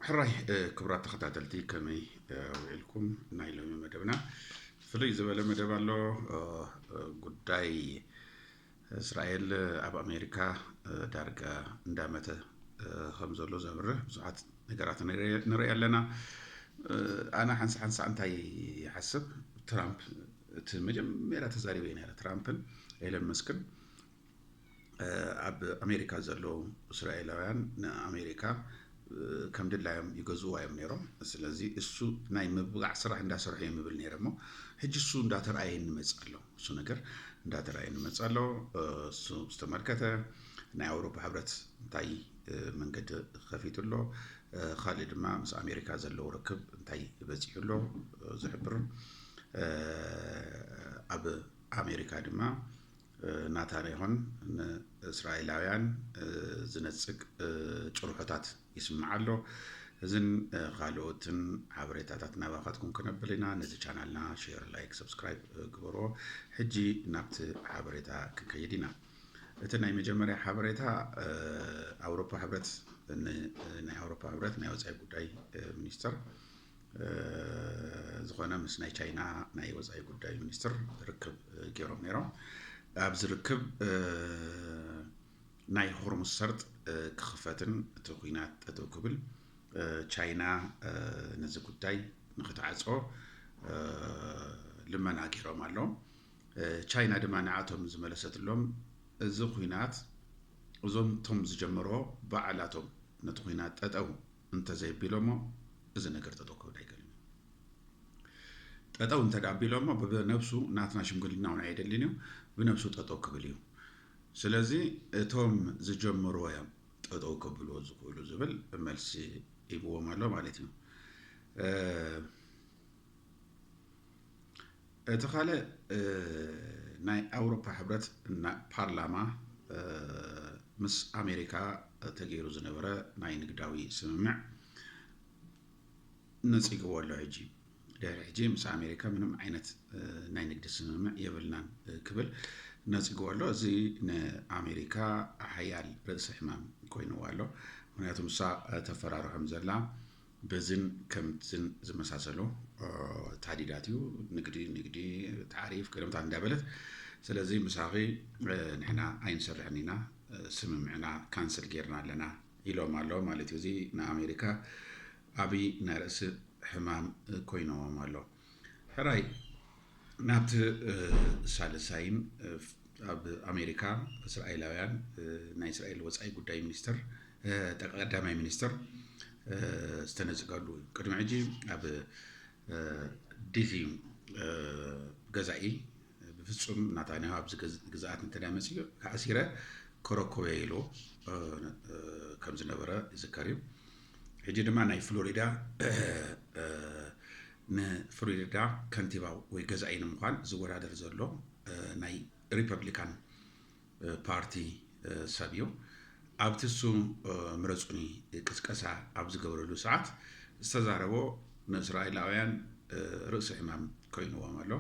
ሕራይ ክብራት ተኸታተልቲ ከመይ ውዒልኩም ናይ ሎሚ መደብና ፍልይ ዝበለ መደብ ኣሎ ጉዳይ እስራኤል ኣብ ኣሜሪካ ዳርጋ እንዳመተ ከም ዘሎ ዘብርህ ብዙሓት ነገራት ንርኢ ኣለና ኣነ ሓንሳ ሓንሳ እንታይ ይሓስብ ትራምፕ እቲ መጀመርያ ተዛሪበ ነረ ትራምፕን ኤለን መስክን ኣብ ኣሜሪካ ዘለዉ እስራኤላውያን ንኣሜሪካ ከም ድላዮም ይገዝእዋ እዮም ነይሮም። ስለዚ እሱ ናይ ምብጋዕ ስራሕ እንዳሰርሑ እዮም ይብል ነይረ እሞ ሕጂ እሱ እንዳተርኣየ ንመፅ ኣሎ እሱ ነገር እንዳተርኣየ ንመፅ ኣሎ እሱ ዝተመልከተ ናይ ኣውሮፓ ሕብረት እንታይ መንገዲ ከፊቱ ኣሎ ካልእ ድማ ምስ ኣሜሪካ ዘለዎ ርክብ እንታይ በፂሑ ኣሎ ዝሕብር ኣብ ኣሜሪካ ድማ ናታንያሁን ንእስራኤላውያን ዝነጽግ ጭርሖታት ይስምዕ ኣሎ። እዝን ካልኦትን ሓበሬታታት ናባኻትኩም ክነብል ኢና ነዚ ቻናልና ሼር ላይክ ሰብስክራይብ ግበርዎ ሕጂ ናብቲ ሓበሬታ ክንከይድ ኢና እቲ ናይ መጀመርያ ሓበሬታ ኣውሮፓ ሕብረት ናይ ኣውሮፓ ሕብረት ናይ ወፃኢ ጉዳይ ሚኒስተር ዝኾነ ምስ ናይ ቻይና ናይ ወፃኢ ጉዳይ ሚኒስትር ርክብ ገይሮም ነይሮም ኣብዚ ርክብ ናይ ሆርሙስ ሰርጥ ክኽፈትን እቲ ኩናት ጠጠው ክብል ቻይና ነዚ ጉዳይ ንክትዓፆ ልመና ገይሮም ኣለዉ ቻይና ድማ ንዓቶም ዝመለሰትሎም እዚ ኩናት እዞም እቶም ዝጀመርዎ ባዕላቶም ነቲ ኩናት ጠጠው እንተዘይኣቢሎሞ እዚ ነገር ጠጠው ክብል ኣይክእልን እዩ። ጠጠው እንተድኣ ኣቢሎሞ ብነብሱ ናትና ሽምግልና እውን ኣየድልን እዩ፣ ብነብሱ ጠጠው ክብል እዩ። ስለዚ እቶም ዝጀመርዎ እዮም ጠጠው ከብልዎ ዝኽእሉ ዝብል መልሲ ሂብዎም ኣሎ ማለት እዩ። እቲ ካልእ ናይ ኣውሮፓ ሕብረት ፓርላማ ምስ ኣሜሪካ ተገይሩ ዝነበረ ናይ ንግዳዊ ስምምዕ ነፂግዎ ኣሎ ሕጂ ድሕሪ ሕጂ ምስ ኣሜሪካ ምንም ዓይነት ናይ ንግዲ ስምምዕ የብልናን ክብል ነፂግዎ ኣሎ እዚ ንኣሜሪካ ሓያል ርእሲ ሕማም ኮይንዎ ኣሎ ምክንያቱ ንሳ ተፈራርሖም ዘላ በዝን ከምዝን ዝመሳሰሉ ታዲዳት እዩ ንግዲ ንግዲ ታሪፍ ቅድምታት እንዳበለት ስለዚ ምሳኺ ንሕና ኣይንሰርሕን ኢና ስምምዕና ካንስል ጌርና ኣለና ኢሎም ኣሎ ማለት እዩ እዚ ንኣሜሪካ ዓብይ ናይ ርእሲ ሕማም ኮይኖዎም ኣሎ ሕራይ ናብቲ ሳልሳይን ኣብ ኣሜሪካ እስራኤላውያን ናይ እስራኤል ወፃኢ ጉዳይ ሚኒስትር ቀዳማይ ሚኒስትር ዝተነፅገሉ እዩ ቅድሚ ሕጂ ኣብ ዲዚ ገዛኢ ብፍጹም ናታንያሁ ኣብዚ ግዝኣት እንተ መጺኡ ተኣሲረ ከረክቦ እየ ኢሉ ከም ዝነበረ ይዝከር እዩ ሕጂ ድማ ናይ ፍሎሪዳ ንፍሎሪዳ ከንቲባ ወይ ገዛኢ ንምዃን ዝወዳደር ዘሎ ናይ ሪፐብሊካን ፓርቲ ሰብ እዩ። ኣብቲ ስም ምረጹኒ ቅስቀሳ ኣብ ዝገብረሉ ሰዓት ዝተዛረቦ ንእስራኤላውያን ርእሲ ሕማም ኮይንዎም ኣሎ።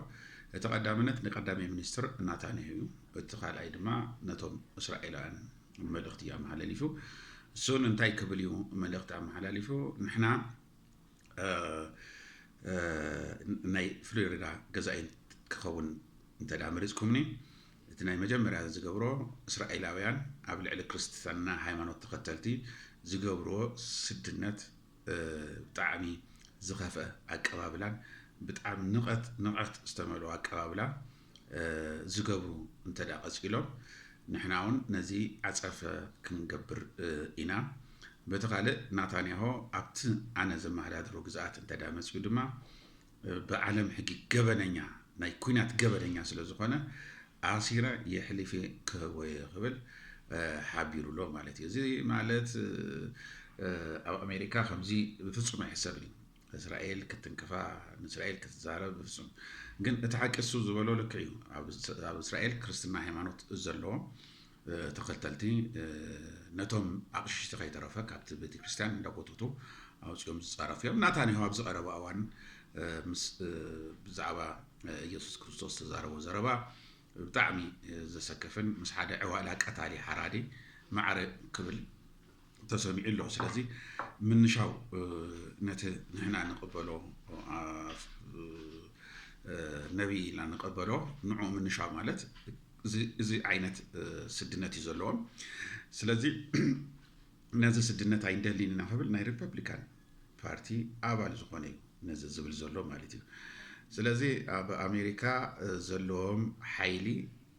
እቲ ቀዳምነት ንቀዳማይ ሚኒስትር ናታንያሁ እዩ። እቲ ካልኣይ ድማ ነቶም እስራኤላውያን መልእኽቲ እዩ ኣመሓላሊፉ። እሱን እንታይ ክብል እዩ መልእኽቲ ኣመሓላሊፉ ንሕና ናይ ፍሎሪዳ ገዛኢ ክኸውን እንተ መሪፅኩምኒ እቲ ናይ መጀመርያ ዝገብሮ እስራኤላውያን ኣብ ልዕሊ ክርስትና ሃይማኖት ተኸተልቲ ዝገብርዎ ስድነት ብጣዕሚ ዝኸፍአ ኣቀባብላን ብጣዕሚ ንቐት ንቐት ዝተመልኦ ኣቀባብላ ዝገብሩ እንተ ቀጺሎም ንሕና እውን ነዚ ዓጸፈ ክንገብር ኢና። በቲ ካልእ ናታንያሆ ኣብቲ ኣነ ዘመሃዳድሮ ግዝኣት እንተ መጺኡ ድማ ብዓለም ሕጊ ገበነኛ ናይ ኩናት ገበነኛ ስለ ዝኾነ ኣሲረ የሕሊፌ ክህቦ እየ ክብል ሓቢሩ ኣሎ ማለት እዩ። እዚ ማለት ኣብ ኣሜሪካ ከምዚ ብፍጹም ኣይሕሰብን እዩ። እስራኤል ክትንክፋ ንእስራኤል ክትዛረብ ብፍጹም ግን እቲ ሓቂ እሱ ዝበሎ ልክ እዩ ኣብ እስራኤል ክርስትና ሃይማኖት ዘለዎም ተኸተልቲ ነቶም ኣቕሽሽቲ ከይተረፈ ካብቲ ቤተ ክርስቲያን እንዳጎተቱ ኣውፅኦም ዝፃረፉ እዮም ናታንያሁ ኣብዚ ቀረባ እዋን ምስ ብዛዕባ ኢየሱስ ክርስቶስ ተዛረቦ ዘረባ ብጣዕሚ ዘሰከፍን ምስ ሓደ ዕዋላ ቀታሊ ሓራዲ ማዕረ ክብል ተሰሚዑ ኣሎ። ስለዚ ምንሻው ነቲ ንሕና ንቕበሎ ነቢይ ኢና ንቐበሎ ንዑ ምንሻ ማለት እዚ ዓይነት ስድነት እዩ ዘለዎም ስለዚ ነዚ ስድነት ኣይንደሊን ኢና ክብል ናይ ሪፐብሊካን ፓርቲ ኣባል ዝኾነ እዩ ነዚ ዝብል ዘሎ ማለት እዩ ስለዚ ኣብ ኣሜሪካ ዘለዎም ሓይሊ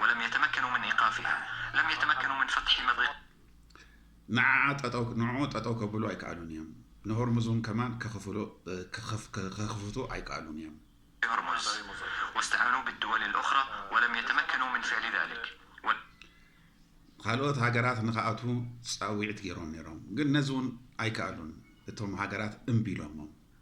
ወለም የተመከኑ ምን ኢቃፊሃ ለም የተመከኑ ምን ፈትሒ መድሪቃ። ንዓዓ ጠጠው ንዕዑ ጠጠው ከብሉ ኣይከኣሉን እዮም። ንሆርሙዝውን ከማን ከኽፍሉ ከኽፍቱ ኣይከኣሉን እዮም። ሆርሙዝ ወስተዐኑ ብድወል ልኡኽራ ወለም የተመከኑ ምን ፍዕሊ ዛሊክ ወል። ኻልኦት ሃገራት ንኽኣትዉ ፃዊዕት ገይሮም ነይሮም ግን ነዚውን ኣይከኣሉን እቶም ሃገራት እምቢ ኢሎሞም።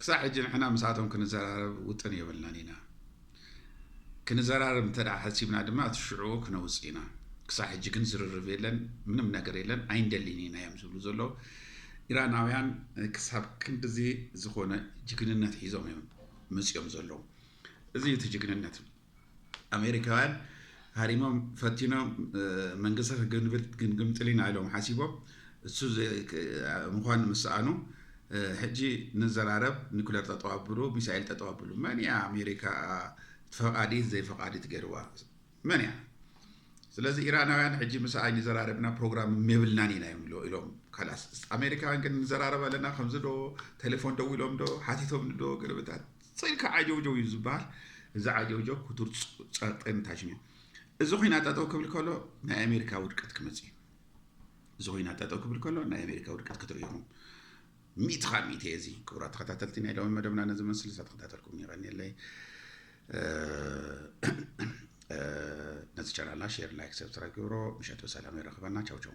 ክሳዕ ሕጂ ንሕና ምስኣቶም ክንዘራረብ ውጥን የብልናን ኢና። ክንዘራረብ እንተ ሓሲብና ድማ እቲ ሽዑኡ ክነውፅ ኢና። ክሳዕ ሕጂ ግን ዝርርብ የለን፣ ምንም ነገር የለን፣ ኣይንደሊን ኢና እዮም ዝብሉ ዘለዉ። ኢራናውያን ክሳብ ክንድዚ ዝኾነ ጅግንነት ሒዞም እዮም መፂኦም ዘለዉ። እዚ እቲ ጅግንነት። ኣሜሪካውያን ሃሪሞም ፈቲኖም መንግስቲ ክግንብት ግንግምጥል ኢና ኢሎም ሓሲቦም እሱ ምኳን ምስኣኑ ሕጂ ንዘራረብ ኒኩለር ጠጠው ኣብሉ ሚሳኤል ጠጠው ኣብሉ መን እያ ኣሜሪካ ፈቃዲት ዘይፈቃዲት ገይርዋ መን እያ ስለዚ ኢራናውያን ሕጂ ምስ ኣይኒ ዘራረብና ፕሮግራም የብልናን ኢና እዮም ኢሎም ካላስ ኣሜሪካውያን ግን ንዘራረብ ኣለና ከምዚ ዶ ቴሌፎን ደው ኢሎም ዶ ሓቲቶም ዶ ገለበታት ጽልካ ዓጀውጀው እዩ ዝበሃል እዚ ዓጀውጀው ክቱር ጸርጠ ምታሽን እዩ እዚ ኩናት ጠጠው ክብል ከሎ ናይ ኣሜሪካ ውድቀት ክመጽእ እዩ እዚ ኩናት ጠጠው ክብል ከሎ ናይ ኣሜሪካ ውድቀት ክትርእዩ ኢኹም ሚእቲ ካብ ሚእቲ እየ እዚ ክቡራት ተኸታተልቲ ናይ ሎሚ መደብና ነዚ መስሊ ሳተኸታተልኩም ይቐኒለይ ነዚ ቻናልና ሼር ላይክ ሰብስክራይብ ግብሮ ምሸት ብሰላም ይረኽበና ቻው ቻው